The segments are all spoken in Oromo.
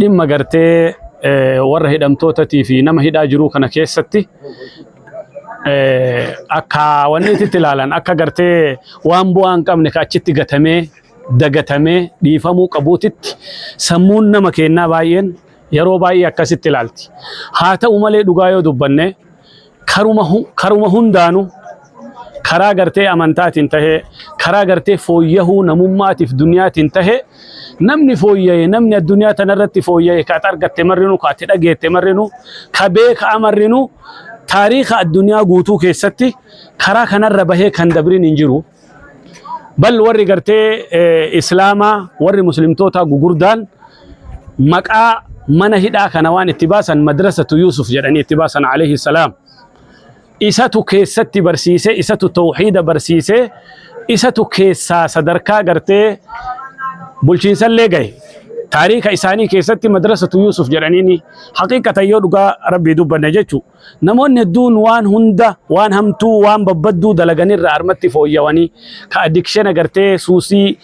dhimma gartee warra hidhamtootatii fi nama hidhaa jiruu kana keessatti akka wanni itti ilaalan akka gartee waan bu'aa hin qabne ka achitti gatamee dagatamee dhiifamuu qabuutitti sammuun nama kennaa baay'een yeroo baay'ee akkasitti ilaalti. Haa ta'u malee dhugaa yoo dubbanne karuma karuma hundaanu karaa gartee amantaatiin tahe karaa gartee fooyyahuu namummaatiif duniyaatiin tahe namni fooyya'e namni addunyaa tanarratti fooyya'e ka at argatte marrinu ka ati dhageette marrinu ka beeka'a marrinu taariika addunyaa guutuu keessatti karaa kanarra bahee kan dabrin hin jiru. Bal warri gartee eh, islaamaa warri muslimtootaa gugurdaan maqaa mana hidhaa kana waan itti baasan madrasatu Yuusuf jedhanii itti baasan alayhi salaam. Isatu keessatti barsiise, isatu tawxiida barsiise, isatu keessaa sadarkaa gartee bulchiinsallee gahe. Taariika isaanii keessatti madrasatu Yuusuf jedhaniini haqiiqatan yoo dhugaa rabbii dubbanne jechuudha. Namoonni hedduun waan hunda, waan hamtuu, waan babbadduu dalagan irraa harmatti fooyyawanii, ka addiction agartee suusii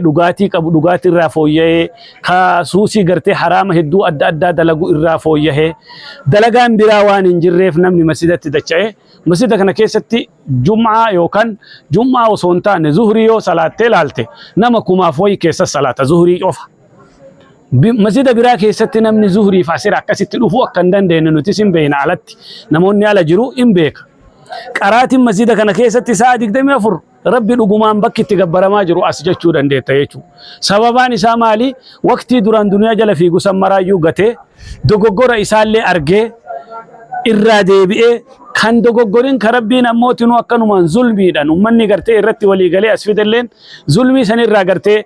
dhugaatii qabu dhugaatii irraa fooyya'ee, ka suusii gartee haraama hedduu adda addaa dalagu irraa fooyyahee, dalagaan biraa waan hin jirreef namni masjidatti dacha'ee, masjida kana keessatti jum'aa yookaan jum'aa osoo hin taane zuhrii yoo salaattee laalte nama kumaaf wayi keessa salaata zuhrii qofa. masjida biraa keessatti namni zuhriif asir akkasitti dhufuu akka hin dandeenye nutis hin beekna alatti namoonni ala jiru hin beeka. Qaraatiin masjida kana keessatti sa'a 24 rabbi dhugumaan bakki itti gabbaramaa jiru as jechuu dandeetta jechuudha. Sababaan isaa maali? Waqtii duraan duniyaa jala fiigu san maraayyuu gatee dogoggora isaallee argee irraa deebi'ee kan dogoggorin ka rabbiin ammootinuu akkanumaan zulmiidhaan ummanni gartee irratti walii galee as fidalleen Zulmii san irraa gartee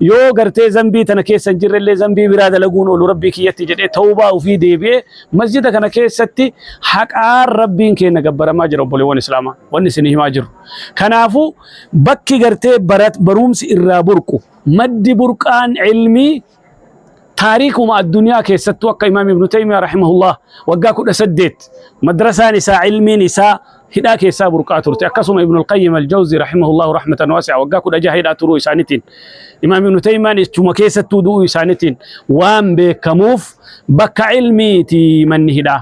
yoo gartee zambii tana keessa hin jirre illee zambii biraa dalaguun oolu rabbii kiyyatti jedhee tawbaa ofii deebi'ee masjida kana keessatti haqaan rabbiin keenya gabbaramaa jira obboleewwan islaamaa wanni isin himaa jiru. Kanaafuu bakki gartee barat- barumsi irraa burqu maddi burqaan ilmii taariikuma addunyaa keessattuu akka imaam ibnu taymiyaa rahimahullah waggaa kudha saddeet madrasaan isaa ilmiin isaa hidhaa keessaa burqaa turte akkasuma ibnu alqayyim aljawzi rahimahullahu rahmatan waasi'a waggaa kudha jaha hidhaa turuu isaanitiin imaam ibnu taymiyaan ichuma keessattuu du'uu isaanitiin waan beekamuuf bakka ilmiiti manni hidhaa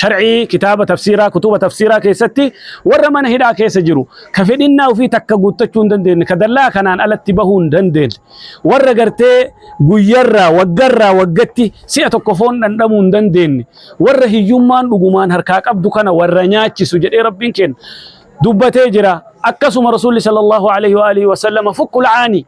shar'ii kitaaba tafsiiraa kutuba tafsiiraa keessatti warra mana hidhaa keessa jiru ka fedhinnaa ofii takka guuttachuu hin dandeenye ka dallaa kanaan alatti bahuu hin dandeenye warra gartee guyyarraa waggarraa waggatti si'a tokko foon dhandhamuu hin dandeenye warra hiyyummaan dhugumaan harkaa qabdu kana warra nyaachisu jedhee rabbiin kenna dubbatee jira akkasuma rasuulli sallallahu alaihi wa alihi wa sallama fukkul aanii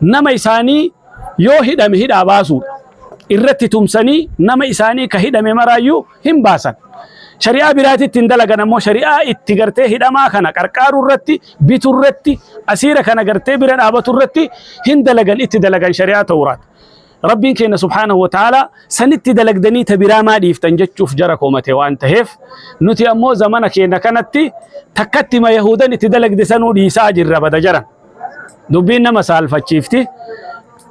nama isaanii yoo hidhame hidhaa baasuudha. Irratti tumsanii nama isaanii ka hidhame maraayyuu hin baasan. Shari'aa biraatitti hin dalagan ammoo shari'aa itti gartee hidhamaa kana qarqaaruu irratti bituu irratti asiira kana gartee bira dhaabatu irratti hin dalagan itti dalagan shari'aa ta'uuraati. Rabbiin keenya subhaanahu wa ta'ala sanitti dalagdanii ta biraa maa dhiiftan jechuuf jara koomate waan taheef nuti ammoo zamana keenya kanatti takkatti ma Yahudan itti dalagde sanuu dhiisaa jirra bada jaran. Dubbiin nama saalfachiifti.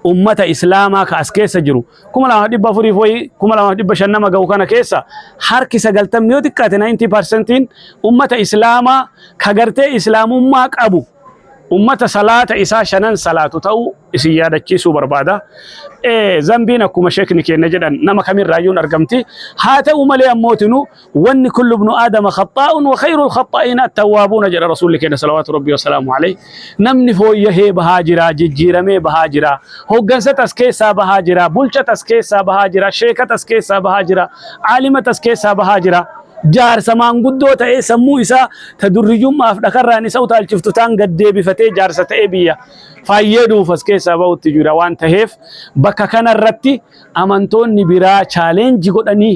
Ummata Islaamaa ka as keessa jiru 2400 fi 2500 nama ga'u kana keessa harki 90 yoo xiqqaate 90% ummata Islaamaa ka gartee Islaamummaa qabu ummata salaata isaa shanan salaatu ta'uu isin yaadachiisuu barbaada. Ee zambiin akkuma sheekni keenya jedhan nama kamirraayyuun argamti. Haa ta'u malee ammootinuu wanni kullu ibnu aadama khaxaa'un wa khayrul khaxaa'iina attawwaabuuna jedha rasuulli keenya salawaatu rabbii wasalaamu alayhi namni fooyyahee bahaa jira jijjiiramee bahaa jira hoggansa tas keessaa bahaa jira bulcha tas keessaa bahaa jira sheeka tas keessaa bahaa jira aalima tas keessaa bahaa jira jaarsa maanguddoo ta'ee sammuu isaa ta durriyyummaaf dhakarraan isa utaalchiftu taan gad deebifatee jaarsa ta'ee biyya faayyee dhuufas keessaa ba'utti jira waan taheef bakka kanarratti amantoonni biraa chaaleenji godhanii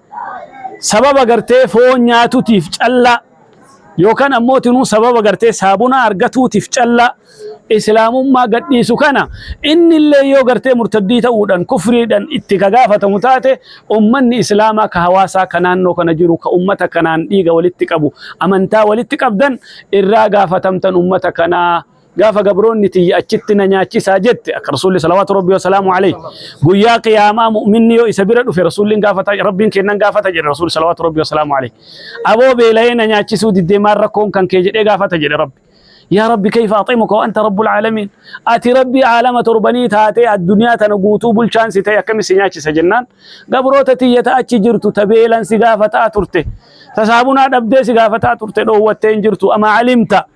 sababa gartee foon nyaatutiif callaa yookaan ammootinuu sababa gartee saabunaa argatuutiif callaa islaamummaa gadhiisu kana inni illee yoo gartee murtaddii ta'uudhaan kufriidhaan itti ka gaafatamu taate ummanni islaamaa ka hawaasaa ka naannoo kana jiru ka ummata kanaan dhiiga walitti qabu amantaa walitti qabdan irraa gaafatamtan ummata kanaa gaafa gabroonni tiyya achitti na nyaachisaa jette akka rasuulli salawaatu rabbi wasalaamu alayhi guyyaa qiyaamaa mu'minni yoo isa bira dhufe rasuulliin gaafata rabbiin kennan gaafata jedhe rasuulli salawaatu rabbi wasalaamu alayhi aboo beela'ee na nyaachisuu diddee maal rakkoon kan kee jedhee gaafata jedhe rabbi yaa rabbi kayfa aximuka wanta rabbul caalamiin ati rabbi caalama torbanii taatee addunyaa tana guutuu bulchaan si ta'e akkami si nyaachisa jennaan gabroota tiyya ta achi jirtu ta beelan si gaafataa turte ta saabunaa dhabdee si gaafataa turte dhoowwattee hin jirtu amaa alimta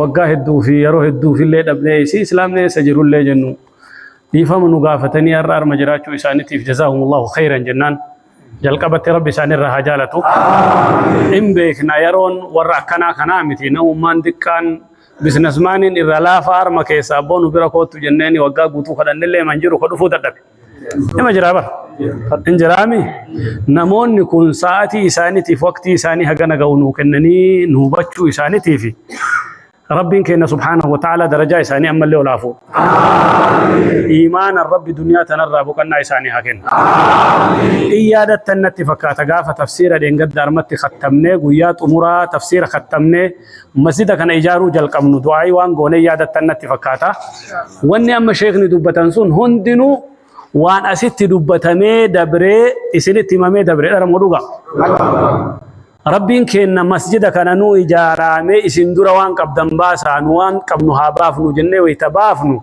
waggaa hedduu fi yeroo hedduuf illee dhabnee isii islaamni eessa jiru illee jennu dhiifama nu gaafatanii har'a arma jiraachuu isaaniitiif jazaahumullahu khayran jennaan jalqabatti rabbi isaanirraa haa jaalatu. In beekna yeroon warra akkanaa kanaa miti namummaan xiqqaan biizinasmaaniin irra laafaa arma keessaa abboo nu bira koottu jenneeni waggaa guutuu kadhannillee man jiru ka dhufuu dadhabe. Nama jiraa bar. Hin jiraami. Namoonni kun sa'aatii isaaniitiif waqtii isaanii hagana ga'u nuu kennanii nu hubachuu isaaniitiif Rabbiin keenya subhaanahu wa ta'ala darajaa isaanii ammallee ol haa fuudhu. Iimaanan Rabbi duniyaa tanarraa boqannaa isaanii haa kennu. In yaadattan natti fakkaata gaafa tafsiira dheengadda armatti kattamnee guyyaa xumuraa tafsiira kattamnee Masjida kana ijaaruu jalqabnu du'aa'ii waan goonee yaadattan natti fakkaata. Wanni amma sheekni dubbatan sun hundinuu waan asitti dubbatamee dabree isinitti himamee dabree dhara moo dhugaa? Rabbiin keenna masjida kana nu ijaaraamee isin dura waan qabdan baasaa nu waan qabnu haa baafnu jennee wayita baafnu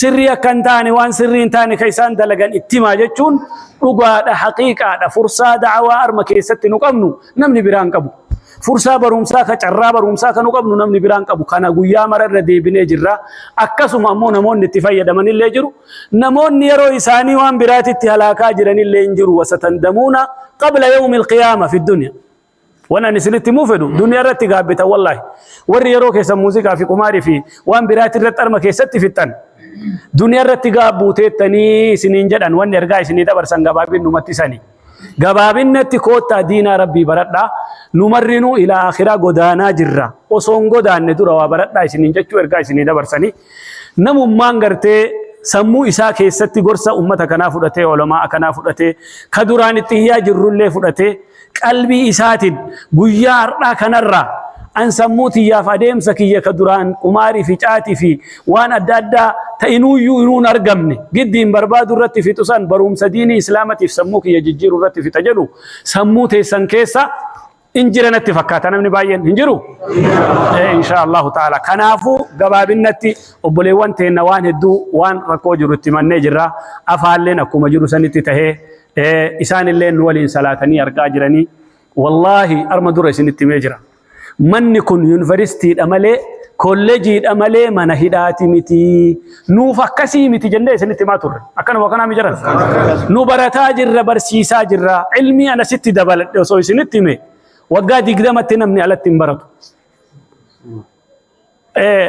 Sirrii akka hin taane waan sirrii hin taane ka isaan dalagan itti himaa jechuun dhugaadha haqiiqaadha fursaa da'awaa arma keessatti nu qabnu namni biraan qabu. Fursaa barumsaa ka carraa barumsaa ka nu qabnu namni biraan qabu kana guyyaa mara irra deebinee jirra. Akkasuma ammoo namoonni itti fayyadaman illee jiru. Namoonni yeroo isaanii waan biraatitti halaakaa jiran illee hin jiru wasatandamuuna qabla yawmi alqiyaama fi dunya. Waan ani isinitti himuu fedhu duniyaa irratti gaabbitan wallaahi. Warri yeroo keessan muuziqaa fi qumaarii fi waan biraati irratti harma keessatti fixxan. Duniyaa irratti gaabbuu teettanii isiniin jedhan wanni ergaa isinii dabarsan gabaabinnumatti sani. Gabaabinnatti koottaa diinaa rabbii baradhaa nu marrinuu ilaa akhiraa godaanaa jirra. Osoo hin godaanne dura waa baradhaa isiniin jechuu ergaa isinii dabarsanii. Namummaan gartee sammuu isaa keessatti gorsa ummata kanaa fudhatee ulamaa akanaa fudhatee ka duraan itti hiyyaa jirrullee fudhatee Qalbii isaatiin guyyaa har'aa kanarraa an sammuu tiyyaaf adeemsa kiyya ka duraan qumaarii fi caatii fi waan adda addaa ta inuuyyuu inuu hin argamne giddiin barbaadu irratti fixu san baruumsa diinii islaamatiif sammuu kiyya jijjiiru irratti fixa jedhu sammuu teessan keessa in jira natti fakkaata namni baay'een hin jiru Eh, insha allahu ta'ala kanaafuu gabaabinnatti obboleewwan teenna waan hedduu waan rakkoo jiru itti mannee jirra afaalleen akkuma jiru sanitti tahee isaan illee nu waliin salaatanii argaa jiranii wallaahi arma dura isinitti himee jira manni kun yuunivarsiitiidha malee kolleejiidha malee mana hidhaati miti nuuf akkasii miti jennee isinitti himaa turre akkanuma kanaa mijaran nu barataa jirra barsiisaa jirra ilmii ana sitti dabaladhe osoo isinitti hime waggaa digdamatti namni alatti hin baratu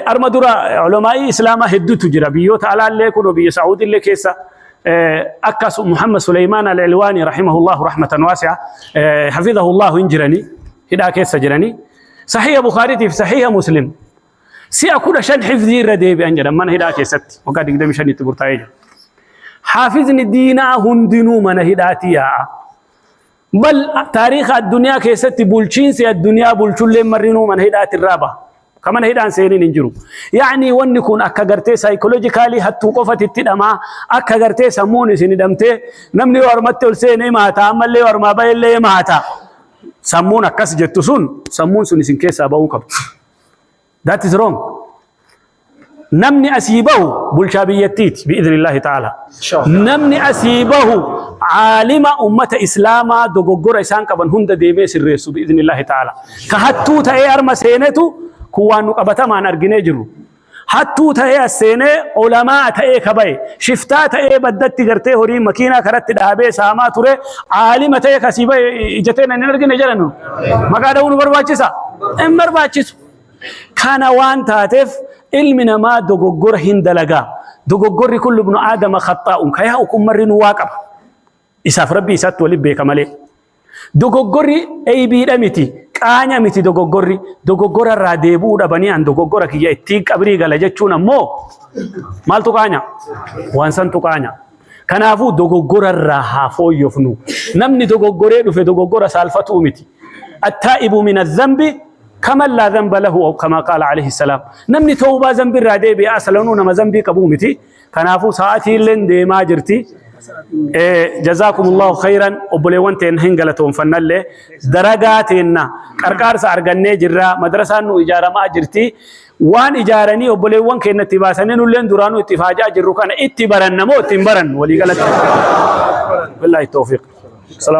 Arma dura ulamaa'ii Islaamaa hedduutu jira. Biyyoota alaallee kunoo biyya Saa'udiillee keessa akka Muhammad Suleymaan Al-Ilwaanii rahimahullahu rahmatan waasi'a hafidhahullahu hin jirani hidhaa keessa jirani. Sahiha Bukhaariitiif sahiha Muslim si'a kudha shan hifzii irra deebi'an jedhan mana hidhaa keessatti waggaa digdami shanitti murtaa'ee jira. Haafizni diinaa hundinuu mana hidhaatii yaa'a. Mal taariikha addunyaa keessatti bulchiinsi addunyaa bulchulleen marrinuu mana hidhaati irraa baha. Ka mana hidhaan seeniin hin jiru. Yaani wanni kun akka gartee saayikoloojikaalii hattuu qofati itti dhamaa akka gartee sammuun isin hidhamtee namni yoo harmatti ol seene maata ammallee yoo harmaa ba'ellee maata. Sammuun akkas jettu sun sammuun sun isin keessaa ba'uu qabdu. That is wrong. Namni asii bahu bulchaa biyyattiiti bi'idhinillahi ta'ala. Namni asii bahu aalima ummata islaamaa dogoggora isaan qaban hunda deemee sirreessu bi'idhinillahi ta'ala. Ka hattuu ta'ee arma seenetu kun waan nu qabatamaan arginee jiru. Hattuu ta'ee as seenee olamaa ta'ee ka bahe shiftaa ta'ee baddatti gartee horii makiinaa karatti dhaabee saamaa ture aalima ta'ee kasii bahe ijatee nan hin argine jedhanu. Maqaa dha'uu nu barbaachisa? Hin barbaachisu. Kana waan taateef ilmi namaa dogoggora hin dalagaa. Dogoggorri kun lubnu aadama khaxaa'un ka yaa'u kun marri nu waa qaba. Isaaf rabbi isaatti waliin beeka malee. Dogoggorri eeybiidha miti, qaanya miti dogoggorri. Dogoggora irraa deebi'uu dhabanii an dogoggora kiyya ittiin qabrii gala jechuun ammoo maaltu qaanya? Waan santu qaanya. Kanaafuu dogoggora irraa haa fooyyofnu. Namni dogoggoree dhufe dogoggora saalfatuu miti. Attaa'ibu mina zambi kaman laa zamba lahu aw kamaa qaala alayhi salaam. Namni tawbaa zambi irraa deebi'e asalanuu nama zambii qabuu miti. Kanaafuu sa'aatii illeen deemaa jirti. Jazaakumullahu khayran obboleewwan teenna hin galatoomfannallee daragaa teenna qarqaarsa argannee jirra madrasaan nu ijaaramaa jirti. Waan ijaaranii obboleewwan keenya itti baasanii nulleen duraanuu itti faajaa jirru kana itti baranna moo itti hin barannu walii galatti. Billaahi toofiq. Salaam.